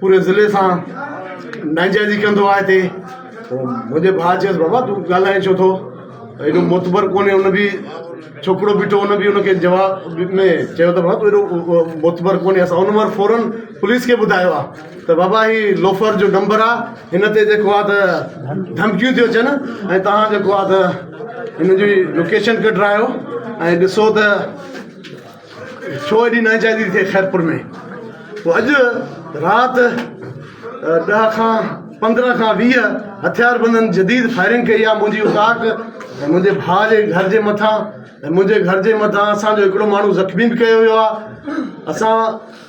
پوري ضلعي سان ناجائزي ڪندو آهي هتي پوء منهنجي ڀاء چيس بابا تون ڳالهائين ڇو ٿو ايڏو معتبر ڪونهي ان بي ڇوڪرو بيٺو هو ان بي ان کي جواب ۾ چيو ته بابا تون ايڏو معتبر ڪونهي اسان ان وقت فورن پوليس کي ٻڌايو آهي ته بابا هي لوفر جو نمبر آهي هن تي جيڪو آهي ته ڌمڪيون ٿيون اچن ۽ تهان جيڪو آهي ته هن جي لوڪيشن ڪڍرايو ۽ ڏسو ته ڇو ايڏي ناجائزي ٿئي خيرپور ۾؟ پوء اڄ رات ڏهه کان پندرهن کان ويهه هٿياربندن جديد فائرنگ ڪئي آهي منهنجي اوطاق ۽ منهنجي ڀاء جي گهر جي مٿان ۽ منهنجي گهر جي مٿان اسان جو هڪڙو ماڻهو زخمي به ڪيو ويو آهي اسان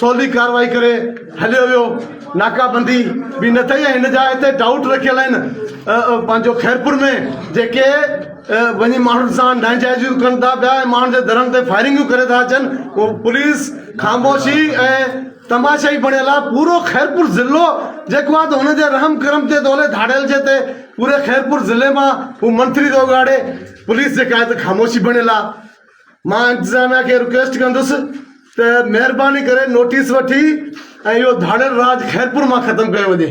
سولي ڪارروائي ڪري هليو ويو ناڪابندي به نه ٿئي ۽ هن جا هتي ڊائوٽ رکيل آهن پنهنجو خيرپور ۾ جيڪي وڃي ماڻهن سان ناجائزيون ڪن ٿا پيا ۽ ماڻهن جي درن تي فائرنگيون ڪري ٿا اچن اهو پوليس خاموشي ۽ تماشائي بڻيل آهي پورو خيرپور ضلعو جيڪو آهي ته هن جي رحم ڪرم تي دولي ڌاڙيل جي تي پوري خيرپور ضلعي مان هو منٿري ٿو اگهاڙي پوليس جيڪا آهي ته خاموشي بڻيل آهي مان انتظاميا کي رڪويسٽ ڪندس ته مهرباني ڪري نوٽيس وٺي ۽ اهو ڌاڙيل راڄ خيرپور مان ختم ڪيو وڃي.